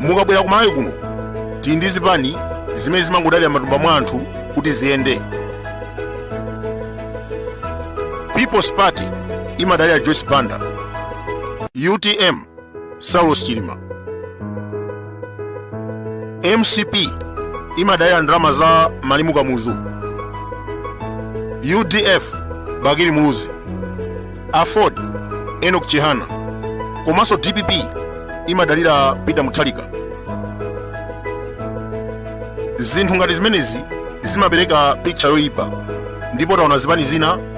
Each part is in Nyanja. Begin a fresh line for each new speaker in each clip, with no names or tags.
mukabwera ku malawi kuno tili ndi zipani zimene zimangodalira matumba mwa anthu kuti ziyende people's party imadalira joyce banda utm saulos chilima mcp imadalira ndalama za malemu kamuzu udf bakili muluzi aford enoch chihana komanso dpp imadalira peter mutharika zinthu ngati zimenezi zimapereka picha yoyipa ndipo taona zipani zina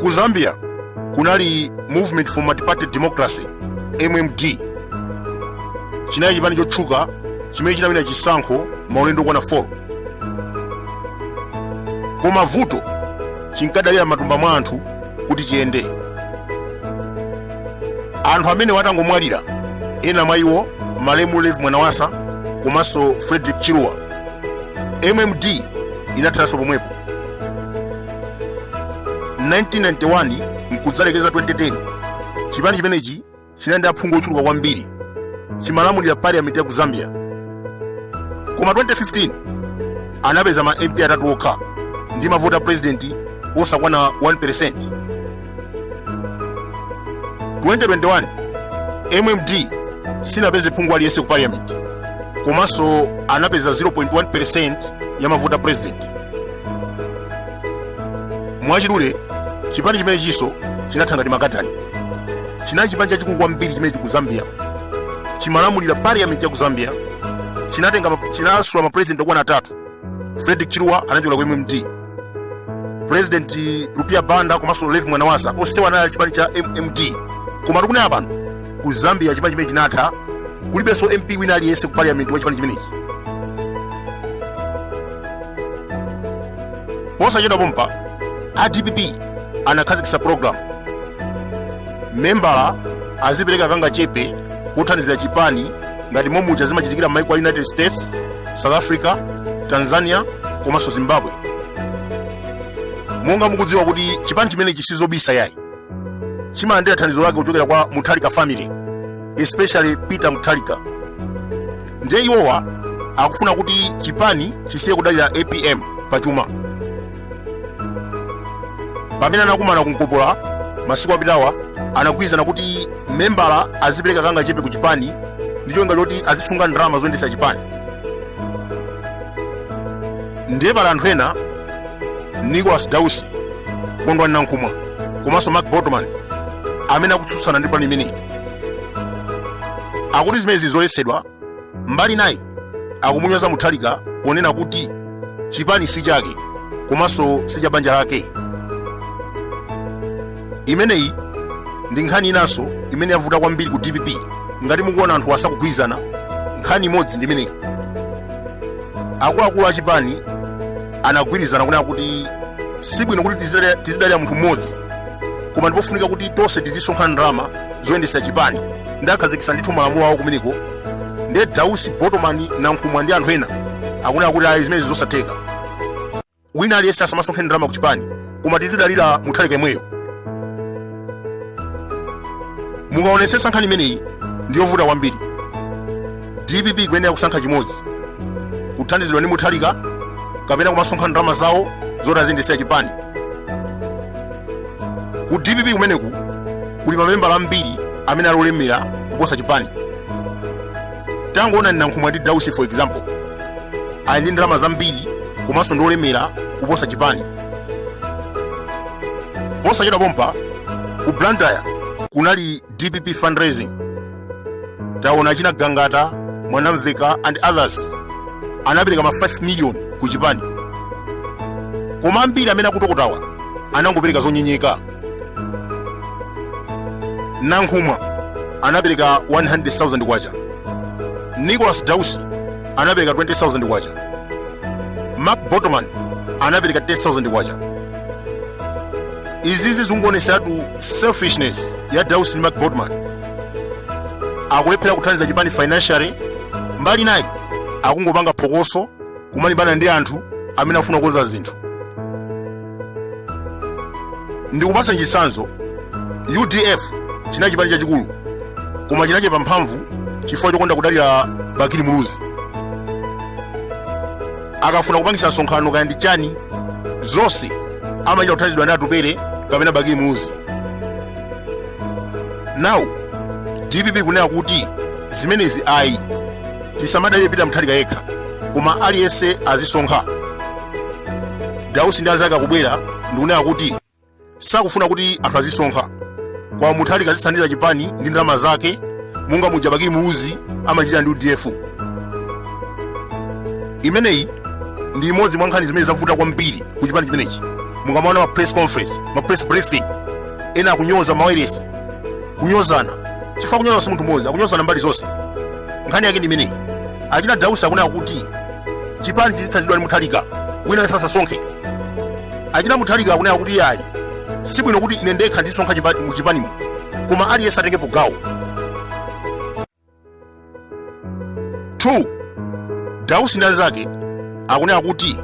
ku zambia kunali movement for multiparty democracy mmd chinali chipani chotchuka chimene chinawina chisankho maulendo okwana 4 koma vuto chinkadalira matumba mwa anthu kuti chiyende anthu amenewa atangomwalira ena mwa iwo malemu levi mwanawasa komanso frederick chiluba mmd inatheranso pomwepo 1991 mkudzalekeza 2010 chipani chimenechi chinali ndi aphungu ochuluka kwambiri chimalamulira parliament ya ku zambia koma 2015 anapeza ma mp atatu okha ndi mavoti a president osakwana 1 2021 mmd sinapeze phungu aliyense ku parliament komanso anapeza 0.1% ya mavoti a president mwachidule chipani chimenechiso chinatha ngati makatani chinali chipani chachikulu kwambiri chimenechi ku zambia chimalamulira parliament ya ku zambia chinasula mapresident okwana atatu frederick chiluba anachokera ku mmd president rupiah banda komanso levi mwanawasa onsewa anali a chipani cha mmd koma tikunena pano ku zambia chipani chimenechi chinatha kulibenso mp wina aliyense ku parliament wa chipani chimenechi posachedwa pompa a dpp anakhazikitsa program membala azipereka kangachepe kothandizira chipani ngati momuja zimachitikira m'maiko a united states south africa tanzania komanso zimbabwe monga mukudziwa kuti chipani chimenechi sizobisa yayi chimalandira thandizo lake kuchokera kwa mutharika family especially peter mutharika ndiye iwowa akufuna kuti chipani chisiye kudalira apm pachuma pamene anakumana ku mkopola masiku apitawa anagwirizana kuti membala azipereka kangachepe ku chipani ndi cholinga choti azisunga ndalama zoyendesa chipani ndiye pali anthu ena nicholas dausi kondwani nankhumwa komanso mark botoman amene akutsutsana ndi pulani imeneyi akuti zimenezi ndi zoletsedwa Mbali inayi akumunyoza Mutharika ponena kuti chipani si chake komanso si cha banja lake. Imeneyi ndi nkhani inanso imene yavuta kwambiri ku dpp ngati mukuona anthu asakugwirizana nkhani imodzi ndi imeneyi akuluakulu achipani anagwirizana kunena kuti sibwino kuti tizidalira munthu mmodzi koma ndipofunika kuti tonse tizisonkha ndalama zoyendesa chipani ndiye akhazikitsa ndithu malamulo awo kumeneko ndiye dausi botomani nankhumwa ndi anthu ena akunena kuti ayi zimenezi zosatheka wina aliyense asamasonkhe ndalama ku chipani koma tizidalira mutharika yemweyo mukaonetsetsa nkhani imeneyi ndiyovuta kwambiri dpp ikuyenera kusankha chimodzi kuthandizidwa ndi mutharika kapena kumasonkha ndalama zawo zoti aziyendetsera chipani ku dpp kumeneku kuli mamembala ambiri amene ali olemera kuposa chipani tangoonani nankhumwa ndi dausi for example ali ndi ndalama zambiri komanso ndi olemera kuposa chipani posachedwa pompa ku blantyre kunali dpp fundraising taona achina gangata mwanamveka and others anapereka ma 5 million ku chipani koma ambiri amene akutokotawa anangopereka zonyenyeka nankhumwa anapereka 100,000 kwacha nicholas dausi anapereka 20,000 kwacha mark botoman anapereka 10,000 kwacha izizi zikungooneseratu selfishness ya dausi ndi mark botoman akulephera kuthandiza chipani financially mbali inayi akungopanga phokoso kumalimbana ndi anthu amene afuna kukonza zinthu ndikupasani chitsanzo udf chinali chipani chachikulu koma chinachepa mphamvu chifukwa chokonda kudalira bakili muluzi akafuna kupangisa msonkhano kaya ndi chani zonse amachita kuthandizidwa ndi atupere kapena bakili muluzi now dpp kunena kuti zimenezi ayi tisamadalire peter mutharika yekha koma aliyense azisonkha Dausi ndi anzake akubwera ndikunena kuti sakufuna kuti anthu azisonkha kwa Mutharika azithandiza chipani ndi ndalama zake monga muja Bakili Muluzi amachita ndi UDF. Imeneyi ndi imodzi mwa nkhani zimene zavuta kwambiri ku chipani chimenechi. Mukamaona ma press conference, ma press briefing, ena akunyoza mawayilesi, kunyozana chifukwa kunyoza si munthu mmodzi, akunyozana mbali zonse. Nkhani yake ndi imeneyi. Achina Dausi akunena kuti chipani chizithandizidwa ndi mutharika wina aliyense asasonkhe achina mutharika akunena kuti ayi sibwino kuti ine ndekha ndizisonkha chipa- mu chipanimo koma aliyense atengepo gawo 2 dausi ndi anzake akunena kuti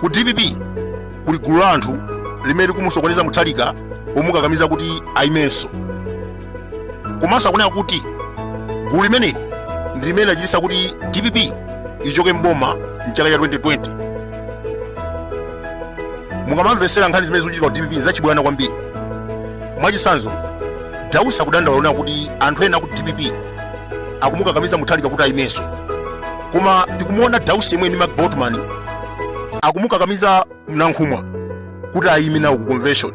ku dpp kuli gulu la anthu limene likumusokoneza mutharika omukakamiza kuti ayimenso komanso akunena kuti gulu limeneli ndi limene lachititsa kuti dpp ichoke mboma mchaka cha 2020 mukamamvetsera nkhani zimene zikuchitika ku dpp nzachibwana kwambiri mwachitsanzo dausi akudandaula kunena kuti anthu ena ku dpp akumukakamiza mutharika kuti ayimenso koma tikumuona dausi yemwe ndi mark botomani akumukakamiza nankhumwa kuti ayime nawo ku convention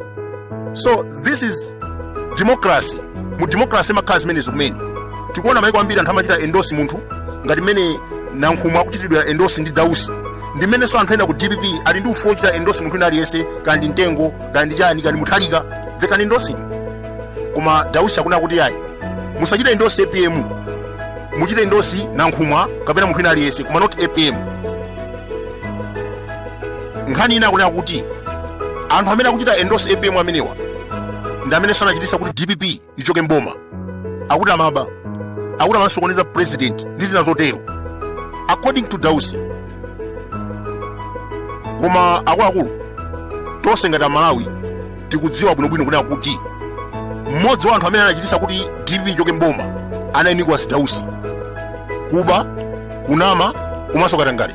so this is democracy mu democracy imakhala zimenezo kumene tikuona maiko ambiri anthu amachita endorse munthu ngati mmene nankhumwa akuchitidwa endorse ndi dausi ndi mmenenso anthu ena ku dpp ali ndi ufulu wochita endorse munthu wina aliyense kaya ndi mtengo kaya ndi chani kaya ndi mutharika they can endorse him koma dausi akunena kuti ayi musachite endorse apm muchite endorse nankhumwa kapena munthu wina aliyense koma not apm nkhani ina akunena kuti anthu amene akuchita endorse apm amenewa ndi amene anachititsa kuti dpp ichoke mboma akuti amaba akuti amasokoneza president ndi zina zotero according to dausi koma akuluakulu tonse ngati amalawi tikudziwa bwinobwino kunena kuti mmodzi wa anthu amene anachititsa kuti dpp ichoke mboma anali nicholas dausi kuba kunama komanso katangale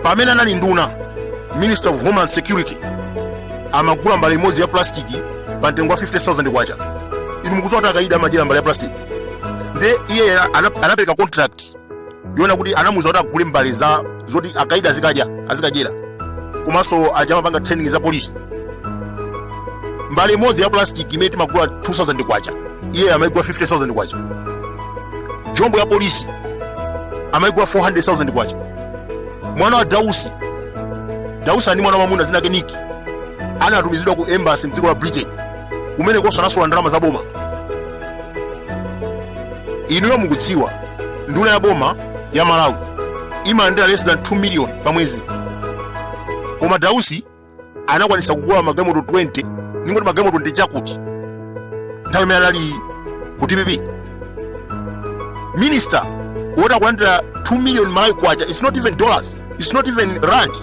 pamene anali nduna minister of homeland security amagula mbale imodzi ya plastiki pa mtengo wa 50000 kwacha inu mukudziwa kuti akaidi amadyera mbale ya plastiki nde iye ana- anapereka contract yonena kuti anamuza kuti agule mbale za zoti akaidi azikadya azikadyera komanso aja amapanga training za polisi mbale imodzi ya plastic imene timagula 2000 kwacha iye amaigula 50000 kwacha jombo ya polisi amaigula 400000 kwacha mwana wa dausi dausi ali ndi mwana wamwamuna dzina lake niki anatumizidwa ku embassy mdziko la britain kumenekonso anasolola ndalama za boma inuyo mukudziwa nduna ya boma ya malawi imalandira less than 2 million pa mwezi koma dausi anakwanisa kugula magalimoto 20 ningoti magalimoto 20 chakuti nthawi imene anali ku dpp minister woti akulandira 2 million malawi kwacha its not even dollars its not even rand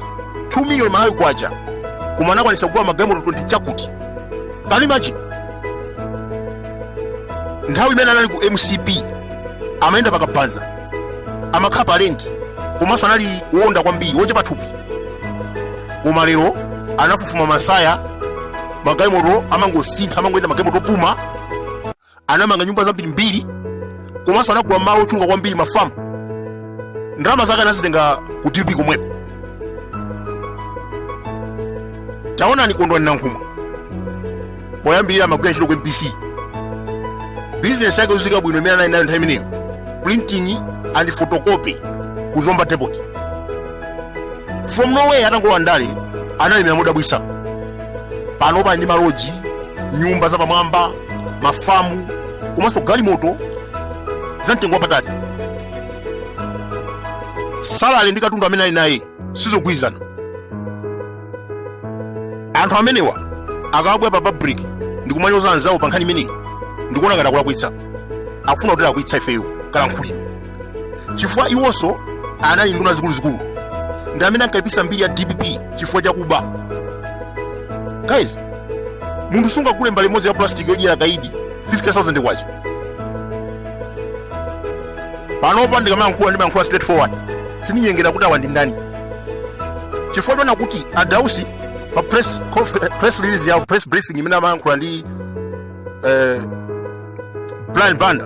2 million malawi kwacha koma anakwanisa kugula magalimoto 20 chakuti can you imagine nthawi imene anali ku mcp amayenda pakabanza amakhala pa rent komanso anali woonda kwambiri wochepa thupi koma lero anafufuma masaya magalimoto amangosintha amangoyenda magalimoto opuma anamanga nyumba zambirimbiri komanso anagula malo ochuluka kwambiri mafamu ndalama zake anazitenga ku dpp komweko taonani kondwani nankhumwa poyambirira amagwira ntchito ku mbc bizinesi yake yodziwika bwino imene anali nayo nthawi imeneyo printing and photocopy ku zomba depot from nowhere atangolowa ndale analemera modabwitsa panopa ali ndi maloji nyumba zapamwamba mafamu komanso galimoto za mtengo wapatali salale ndi katundu amene ali naye sizogwirizana anthu amenewa akabwera pa public ndi kumanyoza anzawo pa nkhani imeneyi ndikuona ngati akulakwitsa akufuna kutilakwitsa ifeyo kalankhulidwe chifukwa iwonso anali nduna zikuluzikulu ndi amene ankaipisa mbiri ya dpp chifukwa chakuba guys munthu sungagule mbale imodzi ya plastic yodyera kaidi 50000 kwacha panopa ndikamayankhula ndimayankhula straight forward sindinyengera kuti awa ndi ndani chifukwa choona kuti adausi pa press, conf- press release yawo press briefing imene amayankhula ndi eh, brian banda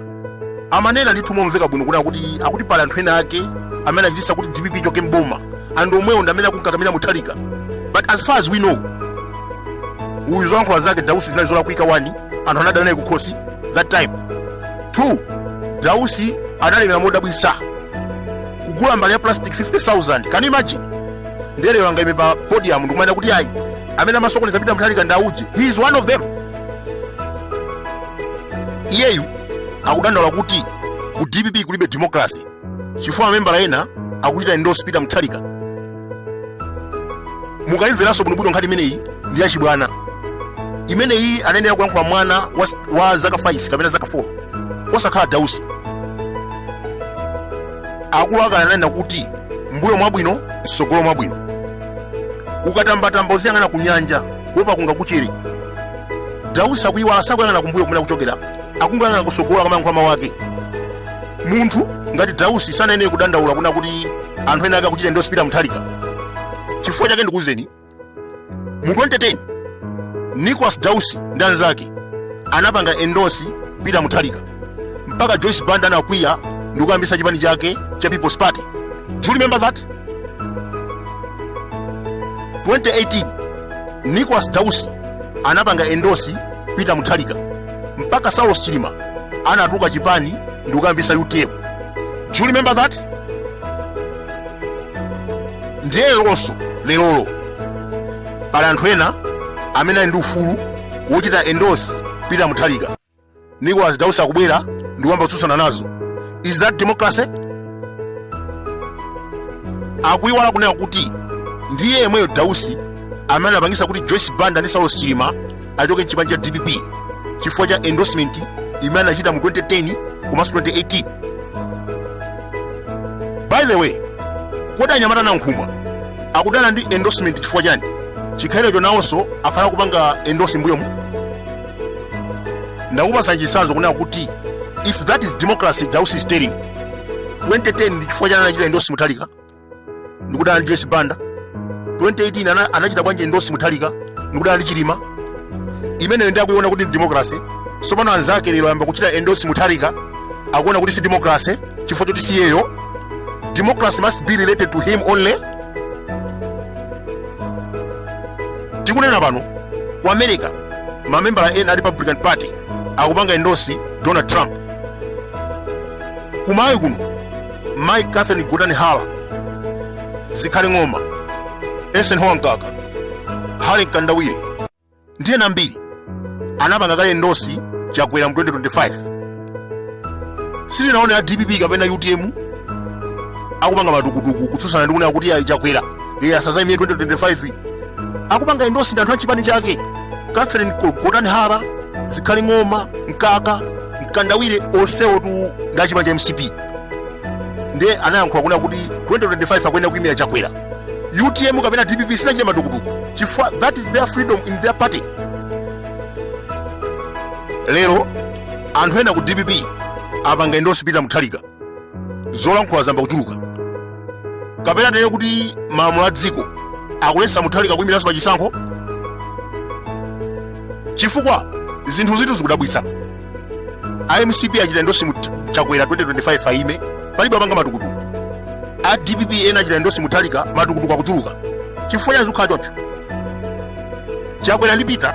amanena ndithu momveka bwino kunena kuti akuti pali anthu ena ake amene achitisa kuti dpp ichoke mboma and omwewo ndi amene akunkakamira muthalika but as far as we know uyu zolankhula zake dausi zinali zolakwika one anthu anadana naye kukhosi that time two dausi analemera modabwisa kugula mbale ya plastic 50000 can you imagine nde lero angaime pa podium ndikumanena kuti ayi amene amasokoneza peter muthalika ndauje he is one of them iyeyu akudandaula kuti ku dpp kulibe democracy chifukwa mamembala ena akuchita endorse peter mutharika mukayimveranso bwinobwino nkhani imeneyi ndi yachibwana imeneyi anayenera kuyankhula mwana wa, wa zaka 5 kapena zaka 4 osakhala dausi akulu akale ananena kuti mbuyo mwabwino msogolo mwabwino ukatambatamba uziyang'ana ku nyanja kuopa kungakuchere dausi akuiwala sakuyang'ana kumbuyo kumene akuchokera akungoyang'ana kusogola kamayankhula mawu ake munthu ngati dausi sanayenere kudandaula kuna kuti anthu ena ake akuchita endosi pita muthalika chifukwa chake ndikuwuzeni mu 2010 nicolas dausi ndi anzake anapanga endosi pita muthalika mpaka joyce banda anakwiya ndikuyambisa chipani chake cha people's party do you remember that 2018 nicolas dausi anapanga endosi peter muthalika mpaka saulos chilima anatuka chipani ndikuyambisa utm do you remember that ndiye lonso lerolo pali anthu ena amene ali ndi ufulu wochita endosi peter muthalika nicholas dausi akubwera ndikuyamba kutsutsana nazo is that democracy akuiwala kunena kuti ndiye yemweyo dausi amene anapangisa kuti joyce banda ndi saulos chilima achoke mchipani cha dpp chifukwa cha endorsement imene anachita mu 2010 komanso 2018 by the way kodi anyamata a nankhumwa akudana ndi endorsement chifukwa chani chikhalirecho nawonso akhala kupanga endorse m'mbuyomu ndakupasa chisanzo kunena kuti if that is democracy dausi is telling 2010 ndi chifukwa chani anachita endosi mutalika ndikudana ndi joyce banda 2018 ana, anachita bwanji endosi mutalika ndikudana ndi chilima imeneyo ndi akuiona kuti ndi democracy sopano anzake lero ayamba kuchita endosi mutalika akuona kuti si democracy chifukwa choti si iyeyo democracy must be related to him only tikunena pano ku america mamembala ena a republican party akupanga endosi donald trump kumalawi kuno mayi catherine gotani hara zikhale ng'oma eisenhower mkaka harry mkandawire ndi ena ambiri anapanga kale endosi chakwera mu 2025 sitinaone a dpp kapena utm akupanga matukutuku kutsutsana ndi kunena kuti ayi chakwera iye asazayimire 2025 akupanga endosi ndi anthu a chipani chake catherine Ko- gotani hara zikhale ng'oma mkaka mkandawire onsewotu ndi a chipani cha mcp ndiye anayankhula kunena kuti 2025 akuyenera kuyimira chakwera utm kapena dpp sinachita matukutuku chifukwa that is their freedom in their party lero anthu ena ku dpp apanga endorse peter muthalika zolankhula zamba kuchuluka kapena tinene kuti malamulo a dziko akuletsa muthalika kuyimiranso pa chisankho chifukwa zinthu zitu zikudabwitsa a mcp achita endorse mu chakwera 2025 ayime palibe apanga matukutuku a dpp ena achita endorse muthalika matukutuku akuchuluka chifukwa chani zikukhala choncho chakwera ndi peter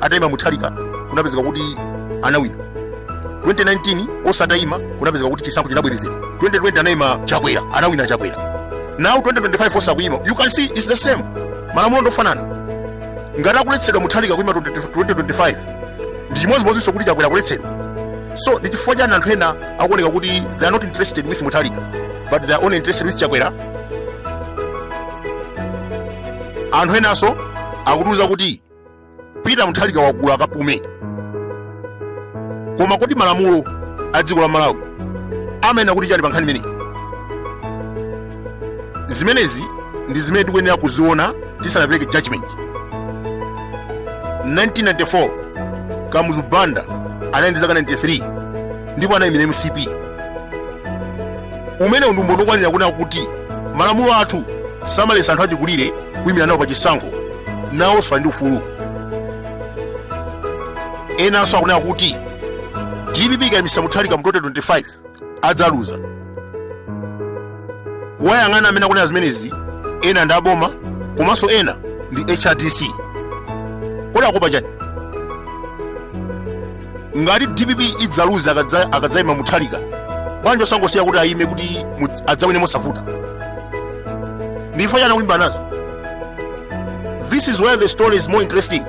atayima muthalika kunapezeka kuti anawina 2019 onse atayima kunapezeka kuti chisankho chinabwerezedwa 2020 anayima chakwera anawina chakwera now 2025 onse akuyima you can see it's the same malamulo ndofanana ngati akuletsedwa muthalika kuyima 2025 ndi chimodzimodzinso kuti chakwera akuletsedwa so ndi chifukwa chani anthu ena akuoneka kuti they are not interested with muthalika but they are only interested with chakwera anthu enanso akutiuza kuti pita muthalika wakula akapume koma kodi malamulo a dziko la malawi amanena kuti chani pa nkhani imeneyi zimenezi ndi zimene tikuyenera kuziona tisanapereke judgment 1994 kamuzu banda anali ndi zaka 93 ndipo anayimira mcp umenewu ndi umboni wokwanira kunena kuti malamulo athu samaletsa anthu achikulire kuyimira nawo pa chisankho nawonso ali ndi ufulu enanso akunena kuti dpp ikayimisa muthalika mu 2025 adzaluza kuwayang'ana amene akunena zimenezi ena ndi aboma komanso ena ndi hrdc kodi akuopa chani ngati dpp idzaluza akadza- akadzaima muthalika bwanji osangosiya kuti ayime kuti mu- adzawine mosavuta ndi chifukwa chani akulimbana nazo this is where the story is more interesting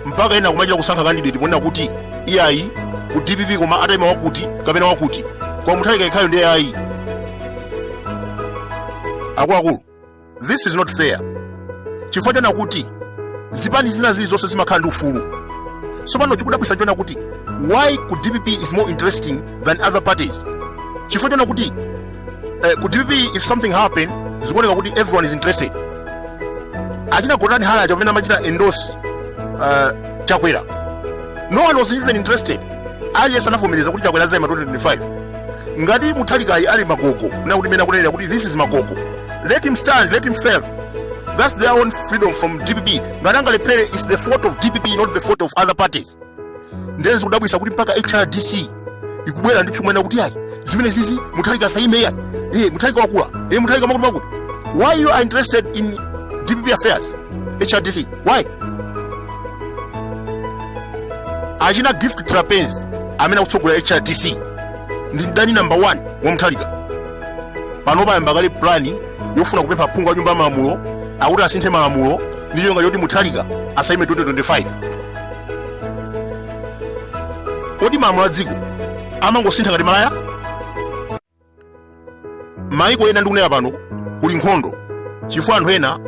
mpaka ena kumachita kusankha kandidate ponena kuti iyayi ku dpp koma ataima wakuti kapena wakuti koma muthalika yekhayo ndi ayi akuluakulu this is not fair chifukwa chonena kuti zipani zina zilizonse zimakhala ndi ufulu tsopano chikudabwisa chonena kuti why ku dpp is more interesting than other parties chifukwa chonena kuti eh, ku dpp if something happen zikuoneka kuti everyone is interested achina gotani hara aja pamene amachita endorse uh, chakwera no one was even interested aliyense anavomereza kuti chakwera azaima 2025 ngati muthalikayu ali magogo monga mmene akunenera kuti this is magogo let him stand let him fail that's their own freedom from dpp ngati angalephere is the fault of dpp not the fault of other parties ndiye zikudabwisa kuti mpaka hrdc ikubwera ndi kumanena kuti ayi zimenezizi muthalika asaime ayi iye muthalika wakula iye muthalika wakuti wakuti why you are interested in dpp affairs hrdc why achina gift trapence amene akutsogolera hrdc ndi mdani namba 1 wa muthalika pano payamba kale plani yofuna kupempha phungu wa nyumba ya malamulo akuti asinthe malamulo ndi chonga choti muthalika asayime 2025 kodi malamulo a dziko amangosintha ngati malaya maiko ena ndikunena pano kuli nkhondo chifukwa anthu ena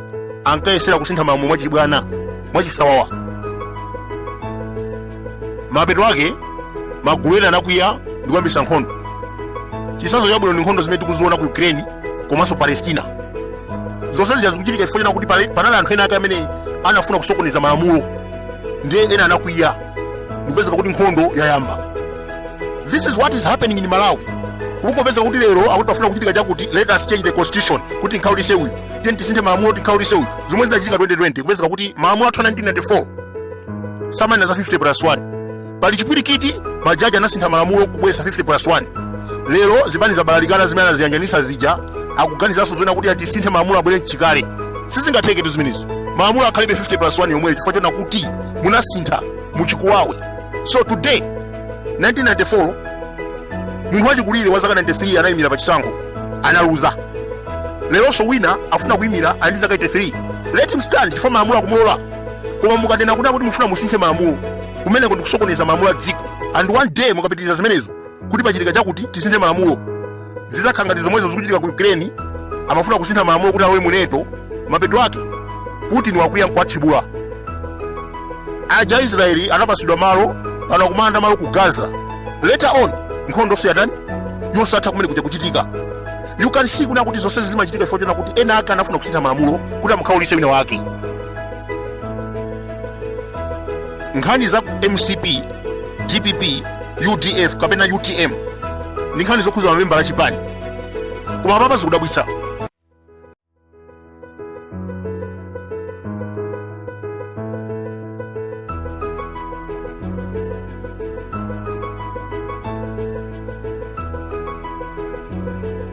ankayesera kusintha malamulo mwachibwana mwachisawawa mapeto ake magulu ena anakwiya ndi kuyambisa nkhondo chisanzo chabwino ndi nkhondo zimene tikuziona ku ukraine komanso palestina zonse zija zikuchitika chifukwa chona kuti panali anthu ena ake amene anafuna kusokoneza malamulo ndiye ena anakwiya kupezeka kuti nkhondo yayamba this is what is happening in malawi kukupezeka kuti lero akuti pafuna kuchitika chakuti let us change the constitution kuti nkhaulise uyu tiyeni tisinthe malamulo kuti nkhaulise uyu zomwe zinachitika 2020 kupezeka kuti malamulo athu 1994 samanena za 50 plus 1 pali chipwirikiti majaji anasintha malamulo kubweza 50 plus 1 lero zipani zabalalikana zimene anaziyanjanisa zija akuganizanso zoona kuti atisinthe malamulo abwere mchikale sizingatheke tu zimenezo malamulo akhalebe 50 plus 1 yomweyo chifukwa chona kuti munasintha muchikuwawe so today 1994 munthu wachikulire wa zaka 93 anayimira pa chisankho analuza leronso wina afuna kuyimira ali ndi zaka 83 let him stand chifukwa malamulo akumulola koma mukati kunena kuti mufuna musinthe malamulo kumeneko ndikusokoneza malamulo a dziko and one day mukapitiriza zimenezo kuti pachitika chakuti tisinthe malamulo zizakhala ngati zomwezo zikuchitika ku ukraine amafuna kusintha malamulo kuti alowe mu nato mapeto ake putin wakwiya nkuwathibula aja aisraeli anapasidwa malo pano akumalanda malo ku gaza later on nkhondo siyatani yosatha kumene kuja kuchitika you can see kunena kuti zonsezi zimachitika chifukwa chona kuti ena ake anafuna kusintha malamulo kuti amukhaulise wina wake nkhani za mcp dpp udf kapena utm ndi nkhani zokhuza mamembala achipani koma apapa zikudabwitsa